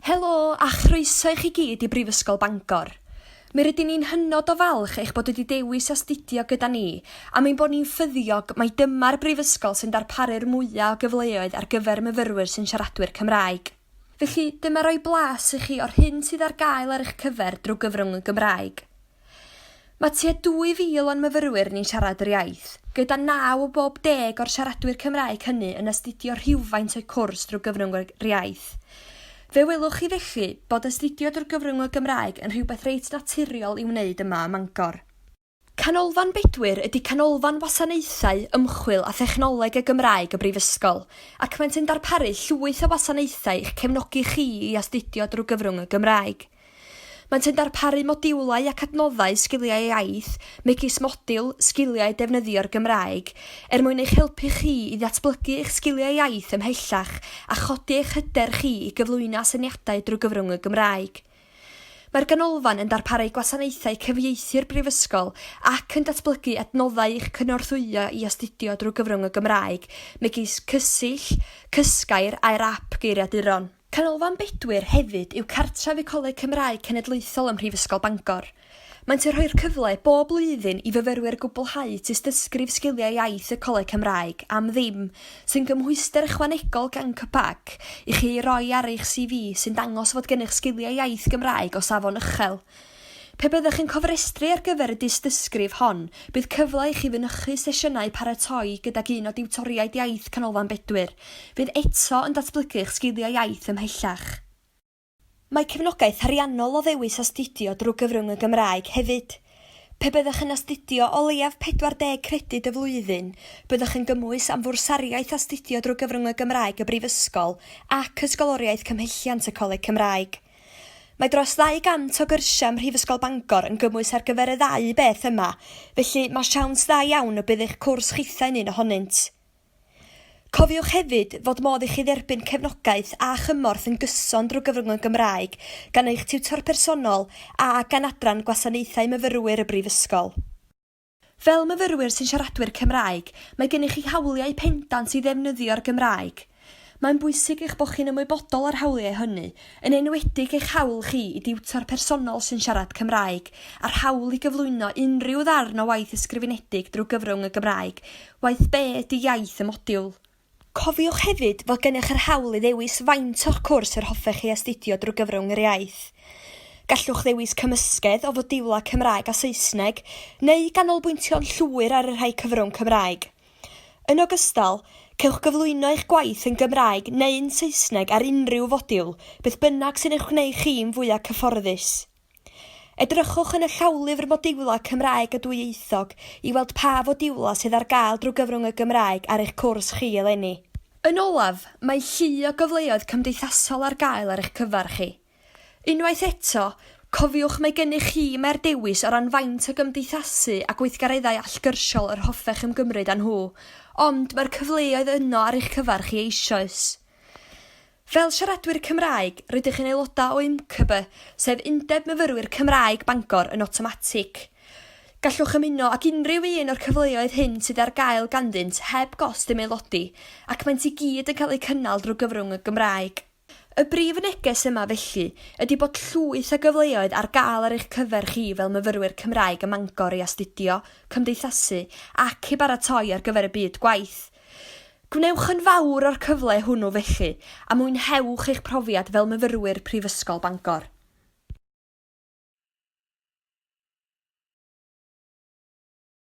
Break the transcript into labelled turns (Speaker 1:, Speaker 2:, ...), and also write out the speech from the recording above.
Speaker 1: Helo a chroeso i chi gyd i Brifysgol Bangor. Mi rydyn ni'n hynod o falch eich bod wedi dewis astudio gyda ni am ein bod ni'n ffyddiog mai dyma'r brifysgol sy'n darparu'r mwyaf o gyfleoedd ar gyfer myfyrwyr sy'n siaradwyr Cymraeg. Felly, dyma roi blas i chi o'r hyn sydd ar gael ar eich cyfer drwy gyfrwng y Gymraeg. Mae tua 2,000 o'n myfyrwyr ni'n siarad yr iaith, gyda naw o bob deg o'r siaradwyr Cymraeg hynny yn astudio rhywfaint o'u cwrs drwy gyfrwng yr iaith. Fe welwch chi felly bod astudio drwy gyfrwng y Gymraeg yn rhywbeth reit naturiol i'w wneud yma ym Mangor. Canolfan Bedwyr ydy Canolfan Wasanaethau, Ymchwil a Thechnoleg y Gymraeg y Brifysgol, ac maent yn darparu llwyth o wasanaethau i'ch cefnogi chi i astudio drwy gyfrwng y Gymraeg. Maent yn darparu modiwlau ac adnoddau sgiliau iaith, megis modiwl Sgiliau Defnyddio'r Gymraeg, er mwyn eich helpu chi i ddatblygu eich sgiliau iaith ymhellach a chodi eich hyder chi i gyflwyno asyniadau drwy gyfrwng y Gymraeg. Mae'r Ganolfan yn darparu gwasanaethau cyfieithu'r Brifysgol ac yn datblygu adnoddau i'ch cynorthwyo i astudio drwy gyfrwng y Gymraeg, megis Cysill, Cysgair a'yr ap geiriaduron. Canolfan Bedwyr hefyd yw cartref y Coleg Cymraeg Cenedlaethol ym Mhrifysgol Bangor. Maent yn rhoi'r cyfle bob blwyddyn i fyfyrwyr gwblhau Tystysgrif Sgiliau Iaith y Coleg Cymraeg am ddim, sy'n gymhwyster ychwanegol gan CCPAC i chi ei roi ar eich CV sy'n dangos fod gennych sgiliau iaith Gymraeg o safon uchel. Pe byddwch yn cofrestru ar gyfer y dystysgrif hon, bydd cyfle i chi fynychu sesiynau paratoi gydag un o diwtoriaid iaith Canolfan Bedwyr, fydd eto yn datblygu'ch sgiliau iaith ymhellach. Mae cefnogaeth ariannol o ddewis astudio drwy gyfrwng y Gymraeg hefyd. Pe byddwch yn astudio o leiaf 40 credyd y flwyddyn, byddwch yn gymwys am fwrsariaeth astudio drwy gyfrwng y Gymraeg y Brifysgol ac Ysgoloriaeth Cymhelliant y Coleg Cymraeg. Mae dros 200 o gyrsiau ym Mhrifysgol Bangor yn gymwys ar gyfer y ddau beth yma, felly mae siawns dda iawn y bydd eich cwrs chithau'n un ohonynt. Cofiwch hefyd fod modd i chi dderbyn cefnogaeth a chymorth yn gyson drwy gyfrwng Gymraeg gan eich tiwtor personol a gan Adran Gwasanaethau Myfyrwyr y Brifysgol. Fel myfyrwyr sy'n siaradwyr Cymraeg, mae gennych chi hawliau pendant i ddefnyddio'r Gymraeg. Mae'n bwysig eich bod chi'n ymwybodol o'r hawliau hynny, yn enwedig eich hawl chi i diwtor personol sy'n siarad Cymraeg, a'r hawl i gyflwyno unrhyw ddarn o waith ysgrifenedig drwy gyfrwng y Gymraeg, waeth be ydy iaith y modiwl. Cofiwch hefyd fod gennych yr hawl i ddewis faint o'ch cwrs yr hoffech chi astudio drwy gyfrwng yr iaith. Gallwch ddewis cymysgedd o fodiwlau Cymraeg a Saesneg, neu ganolbwyntio'n llwyr ar y rhai cyfrwng Cymraeg. Yn ogystal, cewch gyflwyno eich gwaith yn Gymraeg neu'n Saesneg ar unrhyw fodiwl, beth bynnag sy'n eich gwneud chi'n fwyaf cyfforddus. Edrychwch yn y llawlyfr Modiwlau Cymraeg a Dwyieithog i weld pa fodiwlau sydd ar gael drwy gyfrwng y Gymraeg ar eich cwrs chi eleni. Yn olaf, mae llu o gyfleoedd cymdeithasol ar gael ar eich cyfer chi. Unwaith eto, cofiwch mae gennych chi mae'r dewis o ran faint o gymdeithasu a gweithgareddau allgyrsiol yr hoffech ymgymryd â nhw, ond mae'r cyfleoedd yno ar eich cyfer chi eisoes. Fel siaradwyr Cymraeg, rydych yn aelodau o UMCBE, sef Undeb Myfyrwyr Cymraeg Bangor yn awtomatig. Gallwch ymuno ag unrhyw un o'r cyfleoedd hyn sydd ar gael ganddynt heb gost i'm aelodi, ac maent i gyd yn cael eu cynnal drwy gyfrwng y Gymraeg. Y brif neges yma felly ydy bod llwyth o gyfleoedd ar gael ar eich cyfer chi fel myfyrwyr Cymraeg ym Mangor i astudio, cymdeithasu ac i baratoi ar gyfer y byd gwaith. Gwnewch yn fawr o'r cyfle hwnnw felly, a mwynhewch eich profiad fel myfyrwyr Prifysgol Bangor.